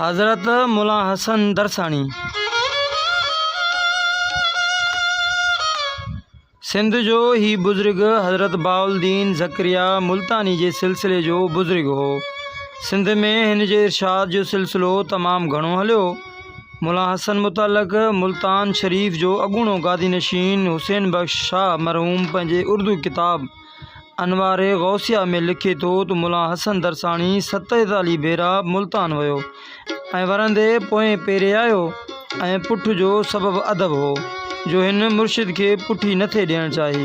حضرت مولانا حسن درساڻي سنڌ جو هي بزرگ حضرت باالدين ذڪريا ملتاني جي سلسلي جو بزرگ هو سنڌ ۾ هن جي ارشاد جو سلسلو تمام گهڻو هليو مولان حسن متعلق ملتان شريف جو اڳوڻو گادي نشين حسين بخش شاهه مرحوم پنهنجي اردو ڪتاب انوار غوثيه ۾ لکي ٿو ته مولان حسن درساڻي ستيتاليهه ڀيرا ملتان ويو ۽ ورندي پوئين پيري آيو ۽ پٺ جو سبب ادب هو. جو هن مرشد کي پٺي نه ٿي ڏيڻ چاهي.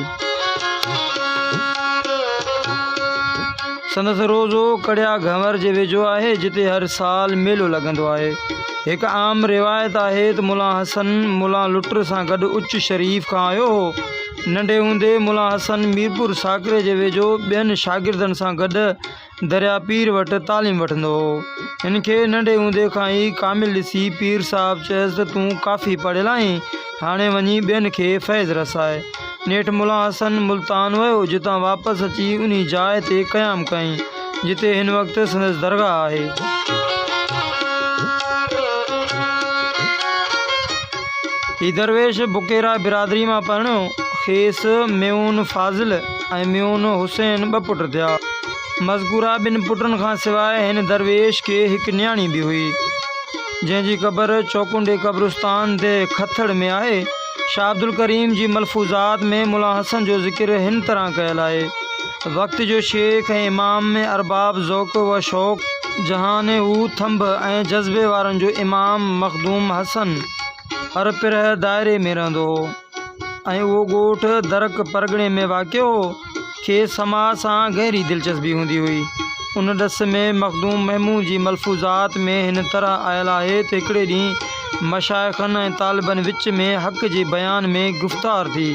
سندس روضو ڪڙيا گهنور جي ويجهو آهي، جتي هر سال ميلو لڳندو آهي. هڪ عام روايت آهي ته ملان حسن ملان لٽر سان گڏ اچ شريف کان آيو هو. ننڍي هوندي ملان حسن ميرپور ساڪري جي ويجهو ٻين شاگردن سان گڏ دريا پير وٽ تعليم وٺندو هو. هن کي ننڍي هوندي کان ئي ڪامل ڏسي پير صاحب چيس ته تون ڪافي پڙهيل آهين، هاڻي وڃي ٻين کي فيض رساء. نيٺ ملان حسن ملتان ويو، جتان واپس اچي انهي جاء تي قيام ڪيائين، جتي هن وقت سندس درگاهه آهي. هي درويش بڪيرا برادري مان پرڻيو، کيس ميون فاضل. ۽ ميون حسين ٻه پٽ ٿيا. مذڪوره ٻن پٽن کان سواء هن درويش کي هڪ نياڻي به هئي، جنهن جي قبر چوڪنڊي قبرستان تي کٿڙ ۾ آهي. شاهه عبدالڪريم جي ملفوظات ۾ ملا حسن جو ذڪر هن طرح ڪيل آهي، وقت جو شيخ ۽ امام ۽ ارباب ذوق و شوق، جهان هو ٿنڀ ۽ جذبي وارن جو امام مخدوم حسن هر پرهه دائري ۾ رهندو هو. ۽ اهو ڳوٺ درڪ پرڳڻي ۾ واقع هو، کيس سماع سان گهري دلچسپي هوندي هئي. ان ڏس ۾ مخدوم محمود جي ملفوظات ۾ هن طرح آيل آهي ته هڪڙي ڏينهن مشائخن ۽ طالبن وچ ۾ حق جي بيان ۾ گفتار ٿي.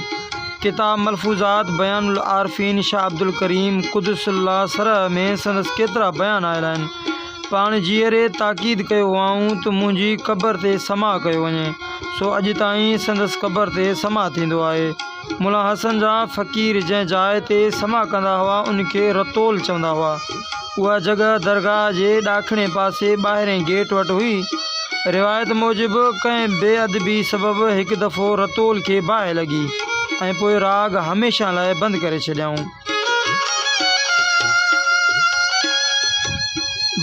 ڪتاب ملفوظات بيان العارفين شاهه عبدالڪريم قدس الله سره ۾ سندس ڪيترا بيان آيل آهن. پاڻ جيئري تاڪيد ڪيو هئائون ته منهنجي قبر تي سماع ڪيو وڃي، سو اڄ تائين سندس قبر تي سماع ٿيندو آهي. ملان حسن جا فقير جنهن جاء تي سماع ڪندا هئا ان کي رتول چوندا هئا. اها جڳهه درگاهه جي ڏاکڻي پاسي ٻاهرئين گيٽ وٽ هئي. روايت موجب ڪنهن بي ادبي سبب هڪ دفعو رتول کي باهه لڳي ۽ پوء راڳ هميشه لاء بند ڪري ڇڏيائون.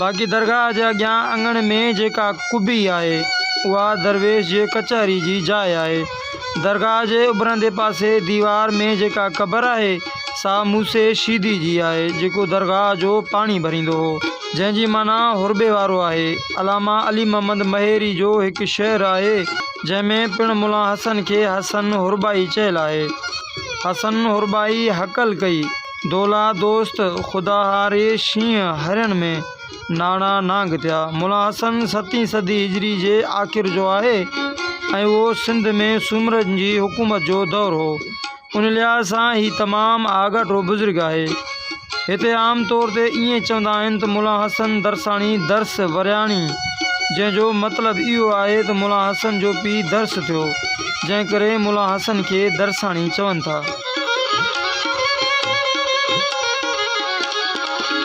باقي درگاهه جي اڳيان اڱڻ ۾ جيڪا قبي آهي، اها درويش جي ڪچهري جي جاء آهي. درگاهه جي اڀرندي پاسي ديوار ۾ جيڪا قبر آهي، سا موسي شيدي جي آهي، جيڪو درگاهه جو پاڻي ڀريندو هو، جنهن جي معنيٰ هرٻي وارو آهي. علامه علي محمد مهيري جو هڪ شعر آهي، جنهن ۾ پڻ ملان حسن کي حسن هرٻائي چيل آهي. حسن حربائي هڪل ڪئي، دولا دوست خدا هاري شينهن هرڻ ۾، ناڻا نانگ ٿيا. ملا حسن ستين صدي هجري جي آخر جو آهي ۽ اهو سنڌ ۾ سومرن جي حڪومت جو دور هو. ان لحاظ سان هي تمام آڳاٽو بزرگ آهي. هتي عام طور تي ائين چوندا آهن ته مولان حسن درساڻي درس ورياڻي جنهن جو مطلب اهو آهي ته مولان حسن جو پيء درس ٿيو جنهن ڪري مولان حسن کي درساڻي چون ٿا.